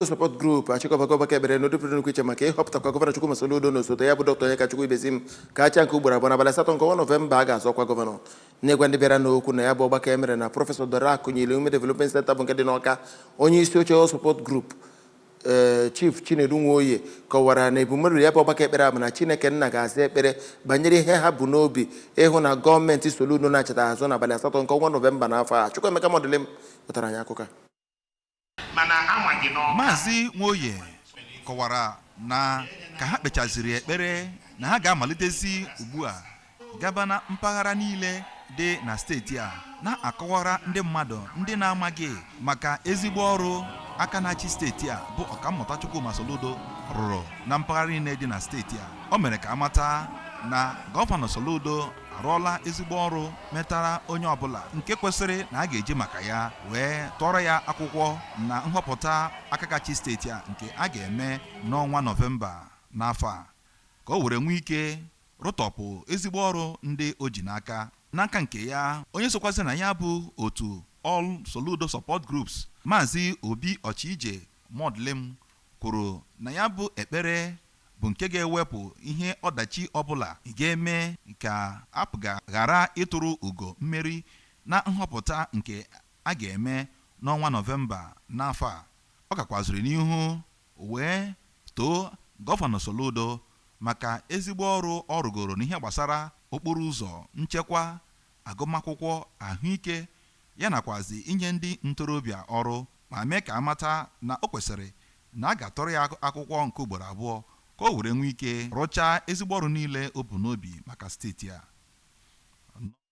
support group achịkọbago ọgbakọ ekpere n'ụdị pụrụ iche maka ịhọpụtakwa gọvanọ Chukwuma Soludo na osote ya bụ dọkịta Onyekachukwu Ibezim ka ha chịa nke ugboro abụọ n'abalị asatọ nke ọnwa nọvemba a ga-azọ ọkwa gọvanọ n'ịgwa ndị bịaranụ okwu na ya bụ ọgbakọ e mere na prọfesọ Dora Akunyili Women development center bụ nke dị n'Ọka onye isi oche All support group ee chief chinedu nwoye kọwara na ebumnobi ya bụ ọgbakọ ekpere a bụ na chineke nna ga-aza ekpere banyere ihe ha bu n'obi ịhụ na gọọmenti Soludo nachita azụ n'abalị asatọ nke ọnwa nọvemba n'afọ a Chukwuemeka Mọdịlịm wetara anyị akụkọ a mana ama gị n'Ọka Maazị Nwoye kọwara na ka ha kpechaziri ekpere na ha ga-amalitezi ugbu a gaba na mpaghara niile dị na steeti a na-akọwara ndị mmadụ ndị na-amaghị maka ezigbo ọrụ aka na-achị steeti a bụ ọkammụta Chukwuma Soludo rụrụ na mpaghara niile dị na steeti a o mere ka a mata na gọvanọ Soludo arụọla ezigbo ọrụ metara onye ọbụla nke kwesịrị na a ga-eji maka ya wee tụọrọ ya akwụkwọ na nhọpụta aka ga-achị steeti a nke a ga-eme n'ọnwa nọvemba n'afọ a ka o were nwee ike rụtọpụ ezigbo ọrụ ndị o ji n'aka n'aka nke ya onye sokwazi na ya bụ otu All Soludo Support Groups maazị Obi Ochije Mọdịlịm kwuru na ya bụ ekpere bụ nke ga-ewepụ ihe ọdachi ọbụla ga-eme ka APGA ghara ituru ugo mmeri na nhọpụta nke a ga-eme n'ọnwa Nọvemba n'afọ a. Ọ gakwaziri n'ihu wee too Gọvanọ Soludo maka ezigbo ọrụ ọ rụgoro n'ihe gbasara okporoụzọ, nchekwa agụmakwụkwọ, ahụike ya nakwazi inye ndị ntorobịa ọrụ ma mee ka a mata na o kwesịrị na a ga-atụrụ ya akwụkwọ nke ugboro abụọ ka o were nwee ike rụchaa ezigbo ọrụ niile o bu n'obi maka steeti a.